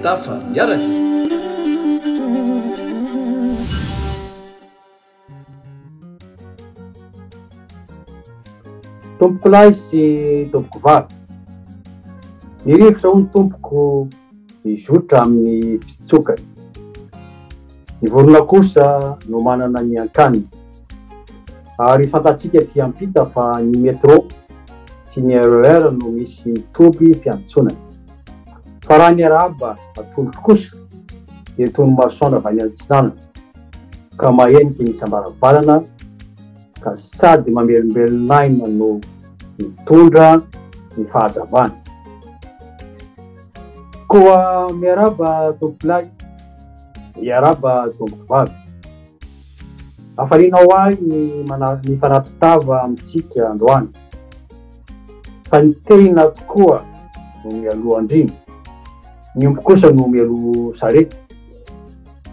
Tafa miaraka. Tompokolahy sy tompokovavy. Ny rivotra hono tompoko. mizotra amin'ny fitsokany. Ny vorona kosa no manana ny an-kaniny. Ary fantatsika aty ampita fa ny metro sy ny RER e no misy toby fiantsonany. Fa raha ny arahaba atolotro kosa dia toy ny masoandro avy any antsinanana ka maheniky ny isam-baravarana. ka sady mamelombelon'aina no mitondra ny fahazavana. Koa miarahaba tompolahy, miarahaba tompovavy. Hafaliana ho ahy ny mana- ny fanatitava amintsika androany, fa ny tena tokoa no mialoha andriana, ny omby kosa no mialoha sarety.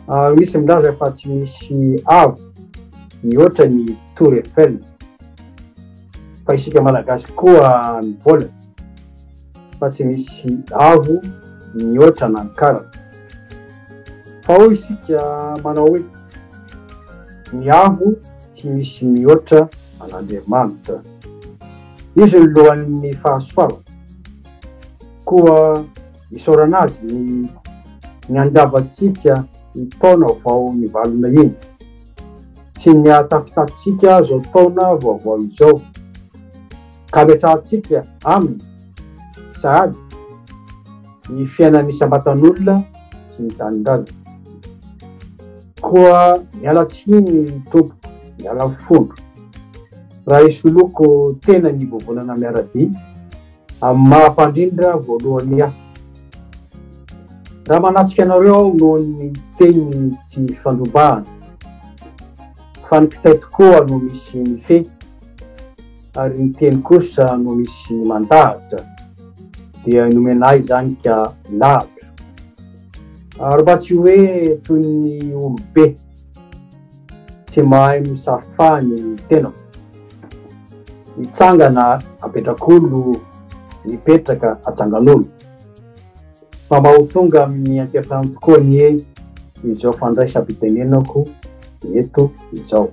Ah, misy milaza fa tsy misy avo mihoatra ny Tour Eiffel, fa isika malagasy koa mivola fa tsy misy avo mihoatra an'Ankara. Fa ao isika manao hoe ny avo tsy misy mihoatra an'Andriamanitra. Izy ny lohan'ny fahasoavana. Koa. isaorana azy ny ny andiavantsika ny taona vao nivalona iny sy ny atafitatsika zao taona vaovao izao ka metrahantsika aminy sahady ny fiainan'ny isam-batan'olona sy ny tanindrazana koa miala tsiny tompo miala fondro raha isoloko tena ny vovonana miaradia Amin'ny maha mpandrindra voalohany ahy. Raha manatrika anareo aho noho ny teny tsy fandrobahana, fa ny kitay tokoa no misy mifehy, ary ny teny kosa no misy mandahatra, dia nomena ahy izany ka lahatra. Ary mba tsy hoe toy ny olobe. Tsy mahay misafa ny tenako. Mitsangana apetrak'olo, mipetraka atsangan'olo. Mba ho tonga amin'ny ankehitrano tokoa anie izao fandraisam-pitenenako eto izao.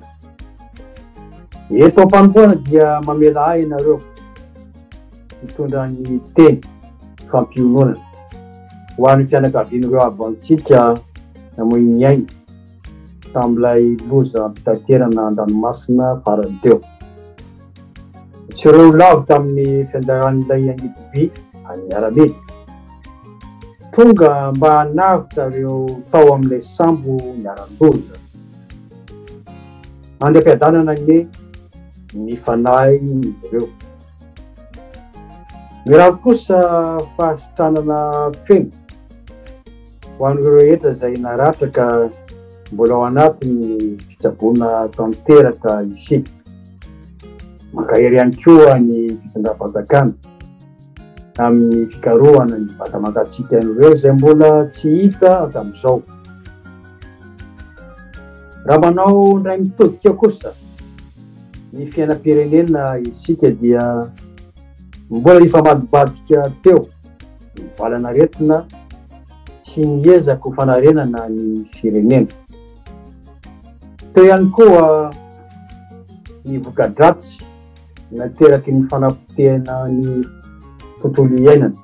Eto am-panompoana dia mamela ahy ianareo hitondra ny teny fampiononana. Ho an'ny fianakavian'ireo havantsika namoy ny ainy tamin'ilay lozam-pitaterana an-dranomasina farany teo. Tsy ireo ho lavo tamin'ny fianjaran'ilay angidibe an'ny miaramila. Tonga mba hanavotra ireo tao amin'ilay sambo niharan-doza. Andry am-piadanana anie ny fanahin'izy ireo. Mirary kosa fahasitranana feno ho an'ireo rehetra izay naratra ka mbola ao anatin'ny fitsaboana tanteraka isika. Mankahery ihany koa ny fitondram-panjakana amin'ny fikarohana ny vata mangatsiaka an'ireo izay mbola tsy hita hatramin'izao. Raha manao indray mitodika kosa ny fiainam-pirenena isika dia mbola nifamadibadika teo ny valan'aretina sy ny ezaka ho fanarenana ny firenena. Teo ihany koa ny voka-dratsy nateraky ny fanapotehana ny tontolo iainana.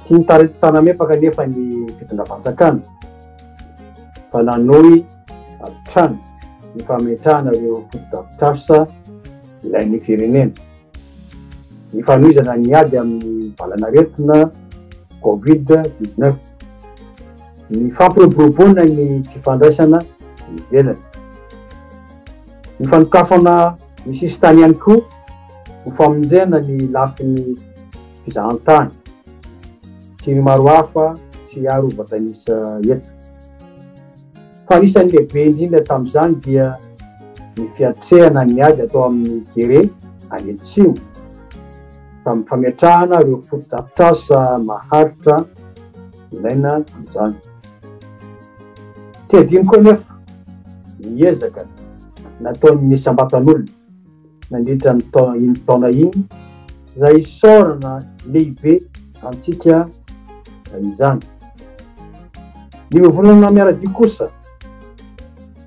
Tsy nitarito tanamepaka anefa ny mpitondra fanjakana fa nanohy hatrany ny fametrahana ireo fotodrafitrasa ilain'ny firenena. Ny fanohizana ny ady amin'ny valanaretina Covid 19, ny fampiroboroboana ny fifandraisana ivelany, ny fanokafana ny sisintany ihany koa ho famonjena ny lafiny fizahantany sy ny maro hafa tsy hiharo vatanisa eto. Fa anisan'ny lehibe indrindra tamin'izany dia ny fiatrehana ny ady atao amin'ny Gere any Atsimo, tamin'ny fametrahana ireo fotodrafitrasa maharitra ilaina amin'izany. Tsy adino koa anefa ny ezaka nataon'ny isam-batan'olona. nandritra ny taona iny taona iny izay isaorana lehibe antsika izany. Ny vovonana miara-dia kosa,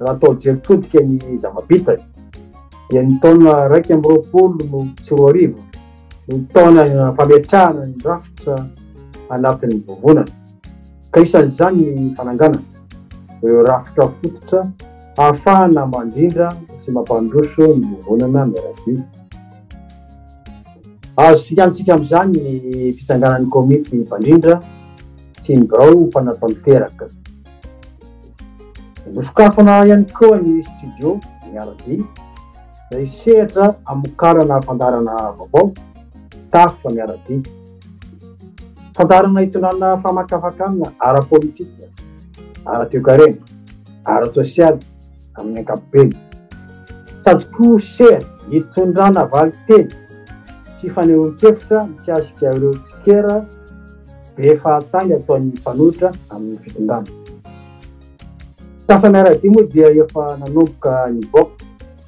raha atao jery todika ny zava-bitany, dia ny taona iraika amby roapolo no sy roa arivo no taona fametrahana ny rafitra anatin'ny vovonana. ka isan'izany ny fananganana ireo rafitra fototra hahafahana mandrindra sy mampandroso ny vovonana miaramila. Azo fikantsika amin'izany ny fitsanganan'ny komity mpandrindra sy ny birao mpanatanteraka. Nosokafana ihany koa ny studio miarabe izay sehatra hamokarana fandaharana vaovao, tafa miarabe. Fandaharana itondrana famakafakana ara-politika, ara-toekarena, ara-tsosialy amin'ny ankapobeny. Sady koa sehatra itondrana valinteny sy fanehoan-kevitra mikasika ireo tsikera be fahatany ataon'ny mpanohitra amin'ny fitondrana. Tafa miara-dia moa dia efa nanomboka nivoaka.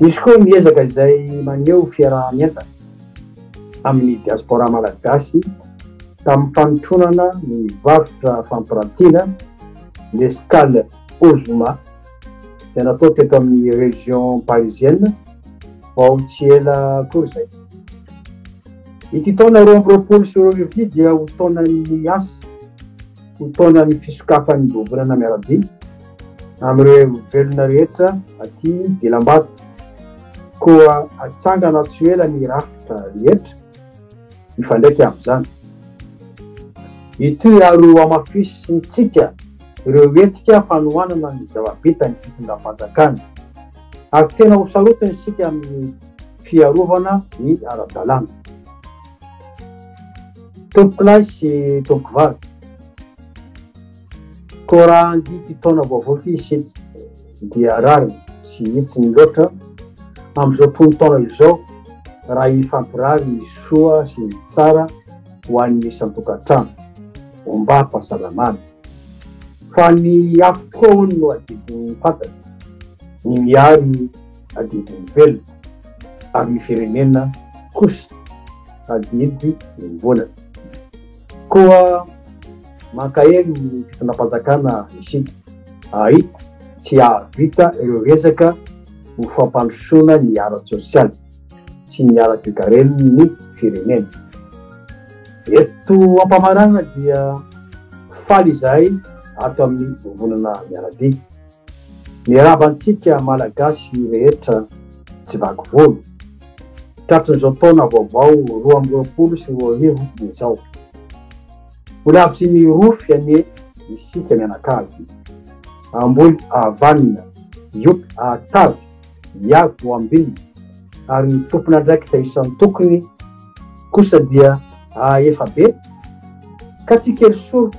Misy koa ny ezaka izay maneho fiaraha-mientana amin'ny diaspora malagasy tamin'ny fanotronana ny varotra fampirantiana, ny Escale Ozoma, izay natao teto amin'ny région parisienne vao tsy ela akory izay. Ity taona roa amby roapolo sy roa arivo ity dia ho taonan'ny asa, ho taonan'ny fisokafan'ny vovonana miaradia. Amin'ireo velona rehetra aty Belambato. Koa hatsangana tsy ho ela ny rafitra rehetra mifandraika amin'izany. Hitohy ary hohamafisintsika ireo hetsika fanohanana ny zava-bitan'ny fitondram-panjakana. Ary tena ho sarotiny isika amin'ny fiarovana ny ara-dalàna. Tompokolahy sy tompokovavy. Koa raha handia ity taona vaovao ity isika dia rariny sy hitsiny loatra amin'izao tonon-taona izao raha hifampirary ny soa sy ny tsara ho an'ny isan-tokantrano, ombam-pahasalamana. Fa ny afo tokoa hono no adidin'ny fantatra, ny miary adidin'ny velona, ary ny firenena kosa adidy ny mbolana. Koa mankahery ny fitondram-panjakana isika ary tsy hahavita ireo resaka ho fampandrosoana ny ara-tsosialy sy ny ara-toekaren'ny firenena. Eto am-pamaranana dia faly izahay ato amin'ny Vovonana Miaradia. Miarahaba antsika Malagasy rehetra tsy vaky volo, tratrin'izao taona vaovao roa amby roapolo sy roa arivo izao. Ho lavitry ny rofy anie isika mianakavy, amboly havanona, youpy hahatavy, viavy ho ambinina, ary ny tompon'andraikitra isan-tokony kosa dia hahaefa be ka tsy kely soroka.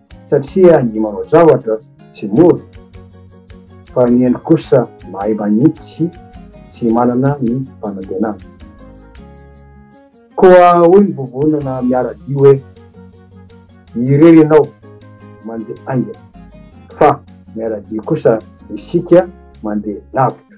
Satria ny manao zavatra tsy mora, fa ny endrika kosa mahay manitsy sy manana ny fanantenana. Koa hoy ny vovonana miara-dia hoe, Irery ianao mandeha haingana, fa miara-dia kosa isika mandeha lavitra.